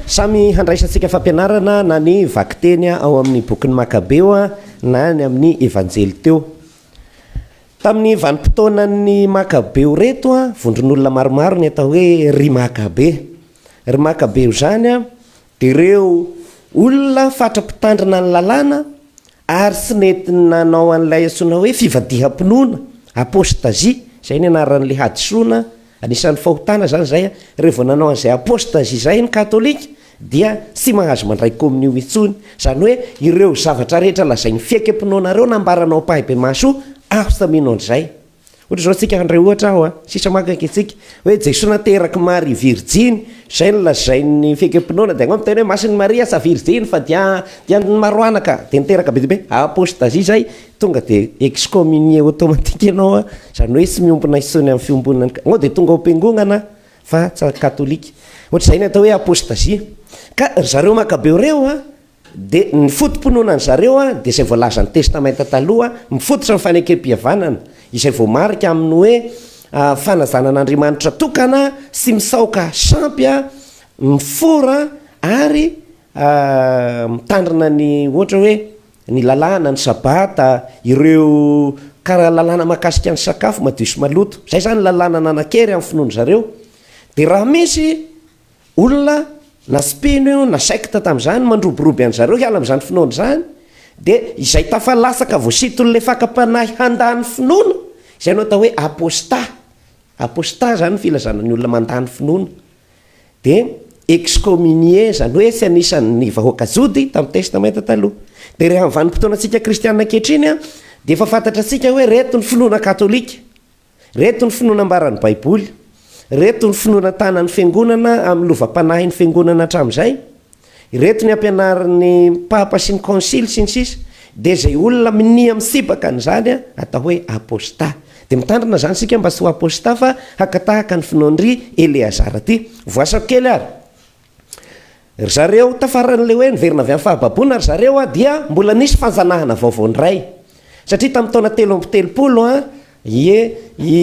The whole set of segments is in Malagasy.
Samy handraisantsika fampianarana na ny vakiteny ao amin'ny bokin'ny Makabeo na ny amin'ny Evanjely teo. Tamin'ny vanim-potoanan'ny Makabeo ireto, vondron'olona maromaro ny atao hoe ry Makabe. Ry Makabeo izany dia ireo olona fatra-pitandrina ny lalàna ary tsy nety nanao an'ilay antsoina hoe fivadiham-pinoana, apostasie, izay ny anaran'ilay hadisoana Anisan'ny fahotana izany izay, rehefa vao nanao an'izay apostazy izay ny katolika dia tsy mahazo mandray kominio intsony. Izany hoe ireo zavatra rehetra lazain'ny fiekem-pinoana ireo nambaranao ampahibemaso after mino an'izay. Ohatra izao tsika handray ohatra aho a, sisa maka ankentsika, hoe Jesoa nateraky Maria virjiny, izay no lazain'ny fiekem-pinoana, dia anao miteny hoe masin'i Maria tsa virjiny fa dia dia ny maroanaka dia niteraka be dia be, apostazy izay. Tonga dia excommunier automatique ianao an, izany hoe tsy miombona intsony amin'ny fiombonana ny, anao dia tonga ao am-piangonana an, fa tsy katolika. Ohatr'izay ny atao hoe apostasie. Ka ry zareo makabeo ireo an, dia ny foto-pinoanan'ny zareo an, dia izay voalazan'ny testamenta taloha an, mifototra amin'ny fanekempihavanana, izay voamarika amin'ny hoe fanajana an'Andriamanitra tokana, tsy misaoka sampy an, mifora an, ary mitandrina ny ohatra hoe, Ny lalàna, ny sabata, ireo kara lalàna mahakasika ny sakafo madio sy maloto, izay izany lalàna nanan-kery amin'ny finoan-dry zareo. Dia raha misy olona na tsy mpino io na secte tamin'izany mandroboroby an-dry zareo hiala amin'izany finoana izany, dia izay tafalatsaka voasinton'ny lefakam-panahy handà ny finoana, izay no atao hoe apostat. Apostat izany no filazana ny olona mandà ny finoana. dia excommunier, izany hoe tsy anisan'ny vahoaka jody tamin'ny Testamenta Taloha. Dia rehefa amin'ny vanim-potoanantsika kristiana ankehitriny dia efa fantatra antsika hoe ireto ny finoana katolika, ireto ny finoana ambaran'ny Baiboly, ireto ny finoana tanan'ny Fiangonana amin'ny lovam-panahin'ny Fiangonana hatramin'izay, Ireto ny ampianarin'ny Papa sy ny Konsily sy ny sisa Dia izay olona minia mitsipaka an'izany atao hoe Apôstà. Dia mitandrina izany isika mba tsy ho Apôstà fa haka tahaka ny finoan-dry Eleazara ity. Voasako kely ary. Ry zareo tafaran'ilay hoe niverina avy amin'ny fahababoana ry zareo dia mbola nisy fanjanahana vaovao indray. Satria tamin'ny taona telo amby telopolo an, ie, i,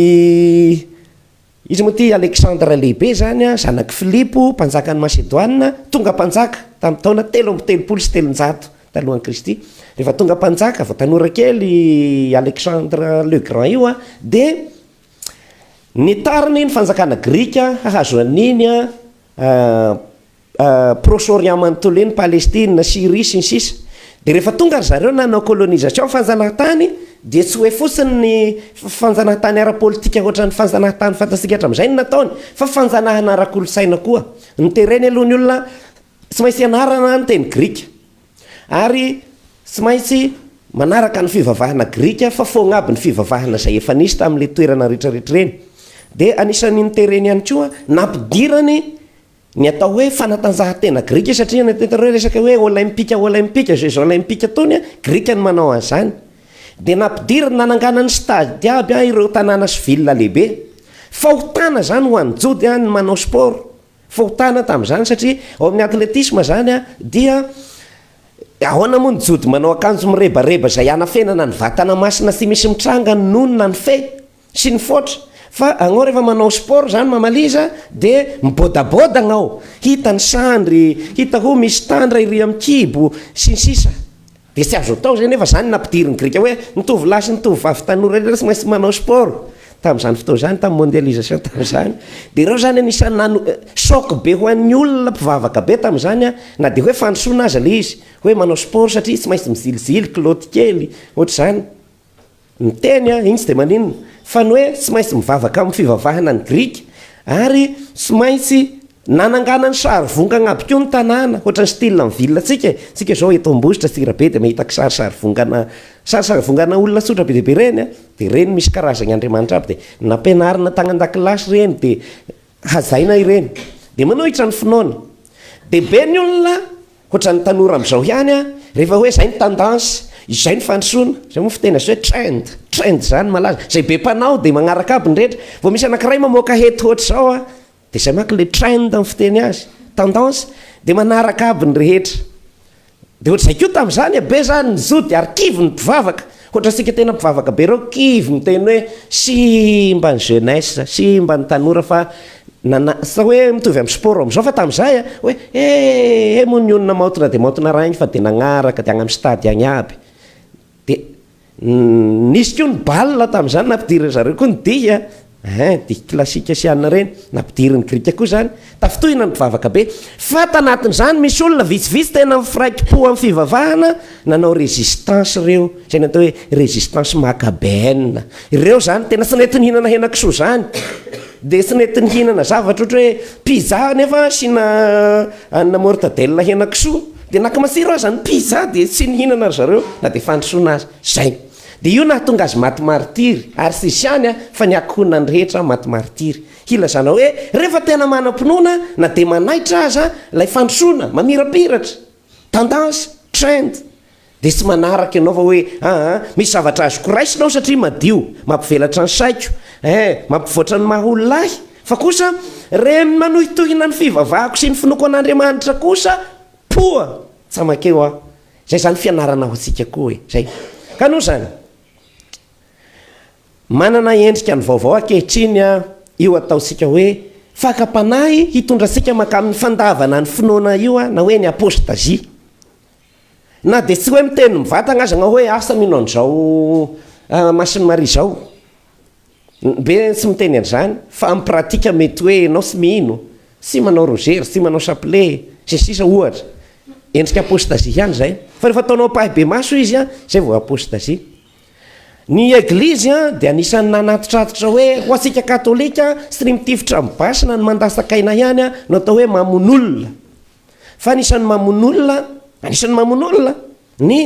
Iza moa ity Aleksandra Lehibe izany? Zanak'i Filipo, mpanjakan'i Masedoina, tonga mpanjaka tamin'ny taona telo amby telopolo sy telonjato talohan'i Kristy. Rehefa tonga mpanjaka, vao tanora kely i Alexandre le Grand io, dia nitariny ny fanjakana grika hahazo an'iny Proche Orient manontolo eny, Palestina, Syrie, sy ny sisa Dia rehefa tonga ry zareo nanao colonisation fanjanahantany dia tsy hoe fotsiny ny fanjanahantany ara-politika hoatran'ny fanjanahantany fantatsika hatramizay no nataony fa fanjanahana ara-kolontsaina koa. Nitereny aloha ny olona tsy maintsy hianarana ny teny grika ary tsy maintsy manaraka ny fivavahana grika fa foagna aby ny fivavahana izay efa nisy tamin'ilay toerana rehetrarehetra ireny. Dia anisan'ny nitereny ihany koa nampidirany Ny atao hoe fanatanjahantena grika satria ny tena hoe resaka hoe olaimpika olaimpika jeux olaimpika tony a, grika no manao an'izany. Dia nampidiriny nanangana ny stade aby a ireo tanàna sy ville lehibe. Fahotana izany ho an'ny jody a ny manao sport, fahotana tamin'izany satria ao amin'ny athlétisme izany a dia ahoana moa ny jody manao akanjo mirebareba izay hanafenana ny vatana masina tsy misy mitranga nony na ny fe, Sy ny foatra. Fa agnao rehefa manao sport zany mamaliza de mibodaboda agnao, hita ny sandry, hita ho misy tandra ery am kibo, sy ny sisa De tsy azo atao zay nefa zany no nampidirin'ny grika hoe ny tovolahy sy ny tovovavy tanora rehetra tsy maintsy manao sport tamzany fotoana zany tam mondialisation tamzany de reo zany anisany nano choc be ho an'ny olona mpivavaka be tamzany an na de hoe fandrosoana aza le izy hoe manao sport satria tsy maintsy mizilijily kilaoty kely ohatr'izany Miteny an, iny tsy dia maninona, fa ny hoe tsy maintsy mivavaka amin'ny fivavahana ny Grika, ary tsy maintsy nanangana ny sarivongana aby koa ny tanàna, hoatran'ny style ny ville antsika e, tsika izao eto Ambositra, Antsirabe dia mahita kisary sarivongana, sary sarivongana olona tsotra be dia be ireny an, dia ireny misy karazany andriamanitra aby, dia nampianarina tany an-dakilasy ireny, dia Hazaina ireny dia manohitra ny finoany. Dia be ny olona ohatran'ny tanora amin'izao ihany an, rehefa hoe izay ny tendance, izay ny fandrosoana, izay moa ny fiteny azy hoe trend, trend izany malaza, izay be mpanao dia magnaraka aby ny rehetra, vao misy anankiray mamoaka hety ohatr'izao an, dia izay manko ilay trend ny fiteny azy, tendance, dia manaraka aby ny rehetra. Dia ohatr'izay koa tamin'izany e, be zany ny zody ary kivy ny mpivavaka, ohatrantsika tena mpivavaka be ireo kivy miteny hoe simba ny jeunesse, simba ny tanora fa nana, sa hoe mitovy amin'ny sport amin'izao fa tamin'izay a, hoe he he moa ny olona maontina dia maontina raha iny fa dia nagnaraka dia any amin'ny stade any aby dia Nisy koa ny bal tamin'izany, nampidirin-dry zareo koa ny dihy a, ehe, dihy klasika sy anona ireny, nampidirin'ny grika koa izany, tafintohina ny mpivavaka be. Fa tanatin'izany misy olona vitsivitsy tena mifraiki-po amin'ny fivavahana nanao résistance ireo, izay ny atao hoe résistance macabéenne. Ireo izany tena tsy nety nihinana henakisoa izany, dia tsy nety nihinana zavatra ohatra hoe pizza nefa asiana anona mortadelle henakisoa, Dia naka masira aza ny pizza dia tsy nihinana ry zareo na dia fandrosoana aza. Izay. Dia io nahatonga azy maty maritiry. Ary tsy izany an, fa ny ankohonany rehetra maty maritiry. Hilazana hoe rehefa tena manam-pinoana na dia manaitra aza ilay fandrosoana mamirapiratra. Tendance, trend. Dia tsy manaraka ianao fa hoe aa misy zavatra azoko raisina aho satria madio, mampivelatra ny saiko, ee mampivoatra ny maha olona ahy, fa kosa reny ny manohitohina ny fivavahako sy ny finoako an'Andriamanitra kosa poa tsa makeo aho. Izay izany fianarana ho antsika koa e! Izay. Ka noho izany, manana endrika ny vaovao ankehitriny io ataontsika hoe fakam-panahy hitondra antsika mankamin'ny fandavana ny finoana io na hoe ny apôstazia. Na dia tsy hoe miteny mivatagna aza anao hoe asa mino an'izao Masin'i Maria izao. Be ny tsy miteny an'izany fa amin'ny pratika mety hoe ianao tsy mino, tsy manao rozery, tsy manao chapelet, sy ny sisa ohatra. Endrika apostasie ihany izay. Fa rehefa ataonao ampahibemaso izy, izay vao apostasie. Ny Eglizy dia anisan'ny nanatitratitra hoe ho antsika Katolika, tsy ny mitifitra amin'ny basy na ny mandatsaka aina ihany no atao hoe mamono olona. fa anisan'ny mamono olona anisan'ny mamono olona ny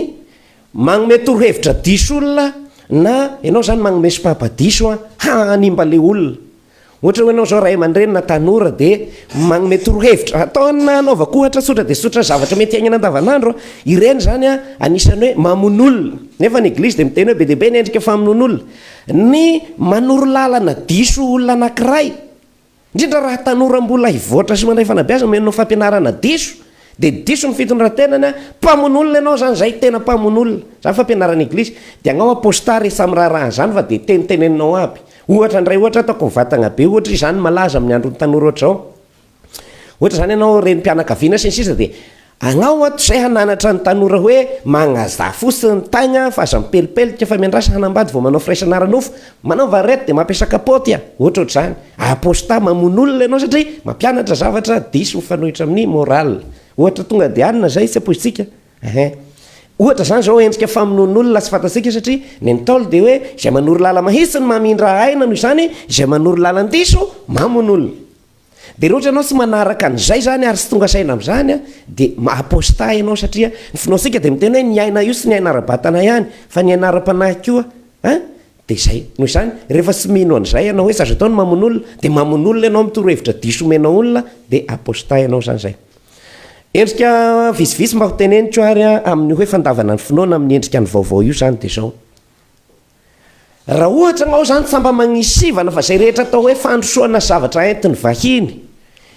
magnome torohevitra diso olona na ianao izany magnome sopapa diso a hanimba le olona ohatra hoe ianao izao ray aman-dreny na tanora dia magnome torohevitra ataona anaovako ohatra tsotra dia tsotra zavatra mety aignana andavanandro a ireny izany a anisan'ny hoe mamono olona nefa ny eglizy dia miteny hoe be dia be ny endrika famonoan'olona ny manoro lalana diso olona anankiray Indrindra raha tanora mbola hivoatra sy mandray fanabeazana no enao fampianarana diso dia diso ny fitondrantenany a! Mpamono olona enao zany zay tena mpamono olona! Zany fampianarana eglizy dia agnao apostat rehefa miraharaha an'zany fa dia teniteneninao aby! Ohatra ndray ohatra ataoko ny vatagna be ohatra izy zany malaza amin'ny andron'ny tanora ohatra zao ohatra zany enao renim-pianakaviana sy ny sisa dia Agnao ato zay hananatra ny tanora hoe magnaza fotsiny ny taigny an fa aza mipelipelika fa miandrasa hanambady vao manao firaisana ara-nofo, manao varety dia mampiasa kapaoty an, ohatrohatr'izany. Aposta mamono olona ianao satria mampianatra zavatra diso mifanohitra amin'ny moral. Ohatra tonga dia anona zay tsy ampoizitsika ehe. Ohatra zany zao endrika famonoan'olona tsy fantatsika satria ny ntaolo dia hoe izay manoro lala mahitsy no mamindra aina noho izany izay manoro lalan-diso mamono olona. Dia raha ohatra ianao tsy manaraka an'izay izany ary tsy tonga saina amin'izany an, dia ma- apostat ianao satria ny finoantsika dia miteny hoe ny aina io tsy ny aina ara-batana ihany fa ny aina ara-panahy koa an, dia izay. Noho izany, rehefa tsy mino an'izay ianao hoe tsy azo atao ny mamono olona, dia mamono olona ianao amin'ny torohevitra diso omenao olona, dia apostat ianao izany izay. Endrika vitsivitsy mba ho teneniko ary an, amin'ny hoe fandavana ny finoana amin'ny endrika ny vaovao io izany dia izao. Raha ohatra ianao izany fa mba manisy sivana fa izay rehetra atao hoe fandrosoana zavatra entin'ny vahiny,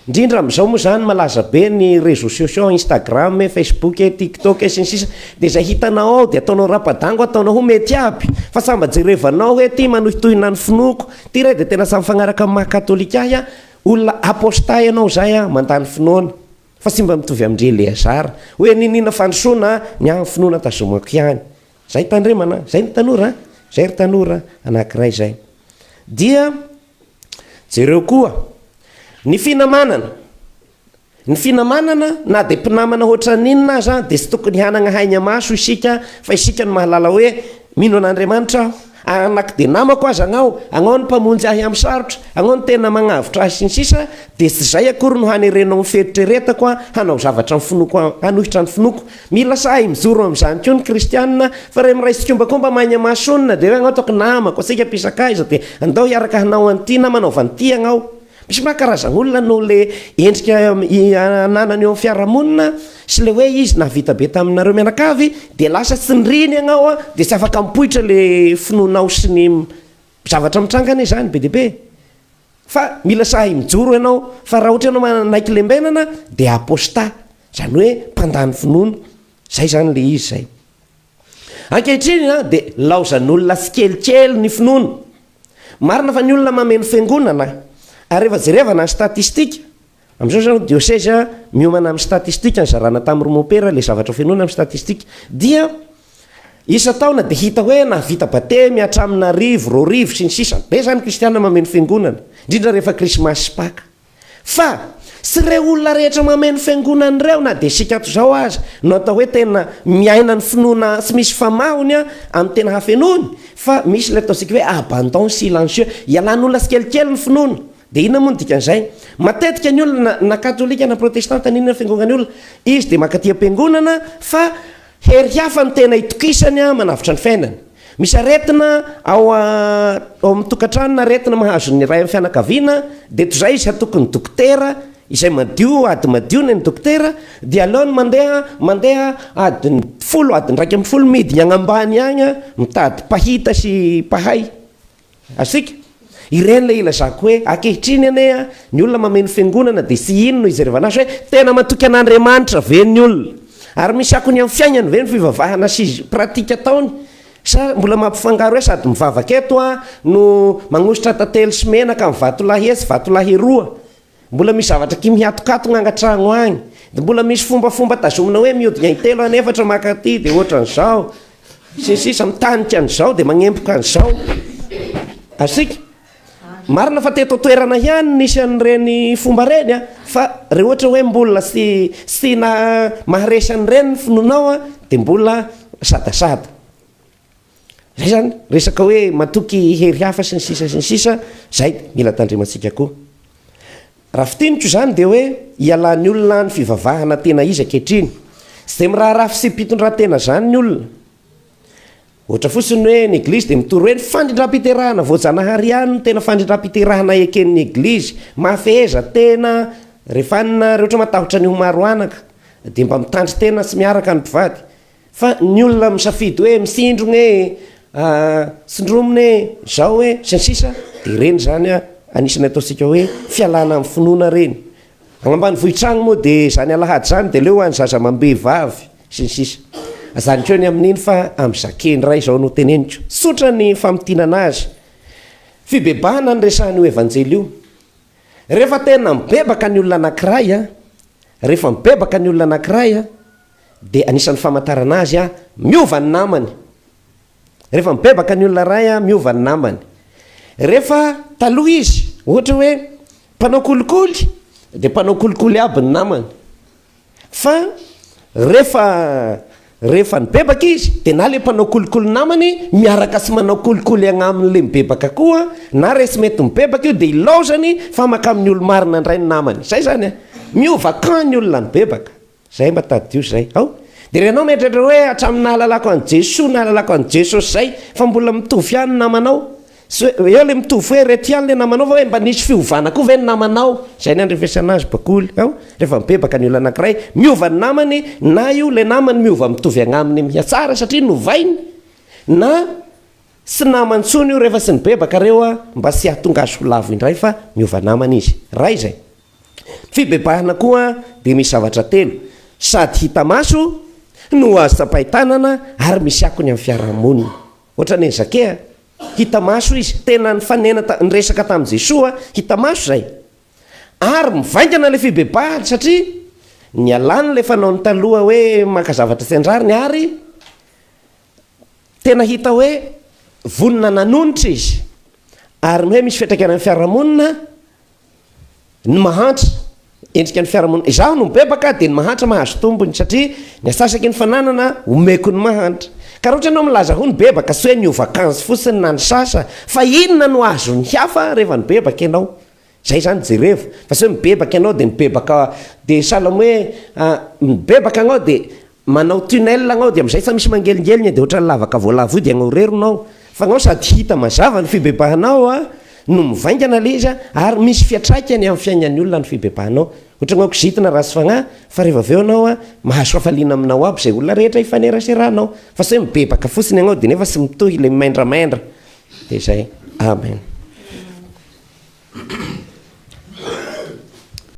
indrindra amin'izao moa izany malaza be ny réseaux sociaux, Instagram e, Facebook e, TikTok e, sy ny sisa Dia izay hitanao ao dia ataonao rapadango ataonao ho mety aby fa samy mba jerevanao hoe ity manohitohina ny finoako, ity re dia tena samy mifagnaraka amin'ny maha katolika ahy a, olona apostat ianao izay a, mandany finoana fa tsy mba mitovy amin-dry Eleazara hoe niniana fandrosoana ny ahy ny finoana tazomako ihany Zay tandremana, zay ny tanora a! Zay ry tanora anankiray zay. Dia jereo koa ny finamanana. Ny finamanana na dia mpinamana hoatran'inona aza dia tsy tokony hanagna haigna maso isika fa isika no mahalala hoe mino an'Andriamanitra aho Ary na ko dia namako aza agnao, agnao no mpamonjy ahy amin'ny sarotra, agnao no tena magnavotra ahy sy ny sisa Dia tsy izay akory no hanerenao ny fieritreretako hanao zavatra ny finoako hanohitra ny finoako Mila sahy mijoro amin'izany koa ny kristianina fa re miray tsikombakomba maigna mahasoa nina dia hoe agnao ataoko namako, antsika mpisakaiza dia andao hiaraka hanao an'ity na manaova an'ity agnao Misy manko karazana olona noho le endrika ananany eo am fiarahamonina sy le hoe izy nahavita be taminareo mianakavy de lasa tsy niriny ianao an de tsy afaka mipoitra le finoanao sy ny zavatra mitranga anie zany be dia be fa mila sahy mijoro ianao fa raha ohatra ianao manaiky lembenana de aposta zany hoe mpandany finoana zay zany le izy zay. Ankehitriny dia nilaozan'olona tsikelikely ny finoana. Marina fa ny olona mameno fiangonana ary rehefa jerevana ny statistika, amin'izao izany diosezy miomana amin'ny statistika nizarana tamin'ireo mopera ilay zavatra fenoina amin'ny statistika dia isan-taona dia hita hoe nahavita batemy hatramin'ny arivo, roa arivo sy ny sisa. Be izany kristiana mameno fiangonana, indrindra rehefa krismasy sy paka. Fa, tsy ireo olona rehetra mameno fiangonana ireo, na dia isika ato izao aza, no atao hoe tena miaina ny finoana tsy misy famahony amin'ny tena hafenoany, fa misy ilay ataontsika hoe abandon silencieux, ialan'olona tsikelikely ny finoana. Dia inona moa no dikan'izay? Matetika ny olona, na katolika na protestanta, na inona fiangonan'ny olona, izy dia mankaty am-piangonana fa Hery hafa no tena itokisany manavotra ny fiainany. Misy aretina ao amin'ny tokantrano na aretina mahazo ny iray amin'ny fianakaviana dia toy izay izy hatoky ny dokotera izay madio ady madio ny an'ny dokotera dia aleony mandeha mandeha adiny folo adiny iraika ambin'ny folo midiny agnambany agny mitady mpahita sy mpahay Azontsika? Ireny ilay ilazako hoe ankehitriny anie an, ny olona mameno fiangonana dia tsy iny no ijerevana azy hoe tena matoky an'Andriamanitra ve ny olona? Ary misy akony amin'ny fiainany ve ny fivavahana sy pratika ataony? Sa mbola mampifangaro hoe sady mivavaka eto an no magnositra tantely sy menaka amin'ny vatolahy etsy vatolahy eroa? Mbola misy zavatra aty mihatokatogna angatragno agny, de mbola misy fombafomba tazomina hoe miodina intelo an efatra maka aty de ohatran'izao, sy ny sisa mitanika an'izao de magnemboka an'izao, aztsika. Marina fa teto an-toerana ihany nisy an'ireny fomba ireny an, fa re ohatra hoe mbola tsy tsy na maharesy an'ireny ny finoanao an de mbola sadasada. Zay zany resaka hoe matoky hery hafa sy ny sisa sy ny sisa, zay mila tandremantsika koa. Raha fitiniko izany dia hoe ialany olona any fivavahana tena izy ankehitriny. Tsy dia miraharaha fitsipi-pitondrantena zany ny olona. Ohatra fotsiny hoe ny eglizy dia mitory hoe ny fandrindram-piterahana voajanahary ihany no tena fandrindram-piterahana eken'ny eglizy. Mahafeheza tena rehefa any nareo ohatra matahotra ny ho maro anaka dia mba mitandrin-tena tsy miaraka ny mpivady. Fa ny olona misafidy hoe mifindrogna e, tsindromina e, zao e, sy ny sisa dia ireny zany anisany ataontsika hoe fialana amin'ny finoana ireny. Agny ambanivohitra agny moa dia zany alahady zany dia aleo any zaza amam-behivavy sy ny sisa. Ajanoko ny amin'iny fa amin'ny zake indray izao no teneniko. Tsotra ny famintinana azy. Fibebahana ny resahan'io evanjely io. Rehefa tena mibebaka ny olona anakiray a, rehefa mibebaka ny olona anakiray a, Dia anisan'ny famantarana azy a, miova ny namany. Rehefa mibebaka ny olona iray a, miova ny namany. Rehefa taloha izy, ohatra hoe mpanao kolikoly, dia mpanao kolikoly aby ny namany. Fa rehefa rehefa nibebaka izy, dia na ilay mpanao kolikoly namany miaraka sy manao kolikoly agnamin'ilay mibebaka koa, na resy mety mibebaka io dia ilaozany fa maka amin'ny olo-marina indray ny namany. Izay izany a, miova camp ny olona nibebaka. Zay mba tadidio zay ao de ianao mieritreritra hoe hatramin'ny nahalalako an'i Jesoa nahalalako an'i Jesosy zay fa mbola mitovy ihany ny namanao sy hoe eo le mitovy hoe reto ihany le namanao fa hoe mba nisy fiovana koa ve ny namanao zay ny andrefesana azy bakoly ao rehefa mibebaka ny olona anakiray miova ny namany na io le namany miova mitovy agnaminy mihatsara satria novainy na tsy namany tsony io rehefa sy nibebaka reo a mba sy hahatonga azy ho lavo indray fa miova namany izy ray zay Ny fibebahana koa dia misy zavatra telo sady hita maso no azo tsapain-tanana ary misy akony amin'ny fiaraha-monina. Ohatran'ny an'i Zakea, hita maso izy, tena nifanena ta- niresaka tamin'i Jesoa, hita maso izay. Ary mivaingana ilay fibebahany satria nialany ilay fanaony taloha hoe maka zavatra tsy an-drariny ary tena hita hoe vonona nanonitra izy. Ary ny hoe misy fiantraikany amin'ny fiaraha-monina, ny mahantra, endrika ny fiarahamonina. Izaho no mibebaka dia ny mahantra mahazo tombony satria ny asasaky ny fananana omeko ny mahantra. Ka raha ohatra ianao milaza ho nibebaka tsy hoe niova akanjo fotsiny na nisasa fa inona no azon'ny hafa rehefa nibebaka ianao? Izay izany jerevo fa tsy hoe mibebaka ianao dia mibebaka dia sahala amin'ny hoe nibebaka ianao dia Manao tunnel agnao dia amin'izay fa misy mangelingelina dia ohatran'ny lavaka voalavo io dia agnaorerina ao fa agnao sady hita mazava ny fibebahanao no mivaingana ilay izy ary misy fiatraikany amin'ny fiaignan'ny olona ny fibebahanao ohatra agnao kizitina ratsy fagnahy fa rehefa avy eo agnao mahazo fafaliana aminao aby izay olona rehetra hifaneraserahanao fa tsy hoe mibebaka fotsiny agnao dia nefa tsy mitohy ilay mimaindramaindra dia izay amen.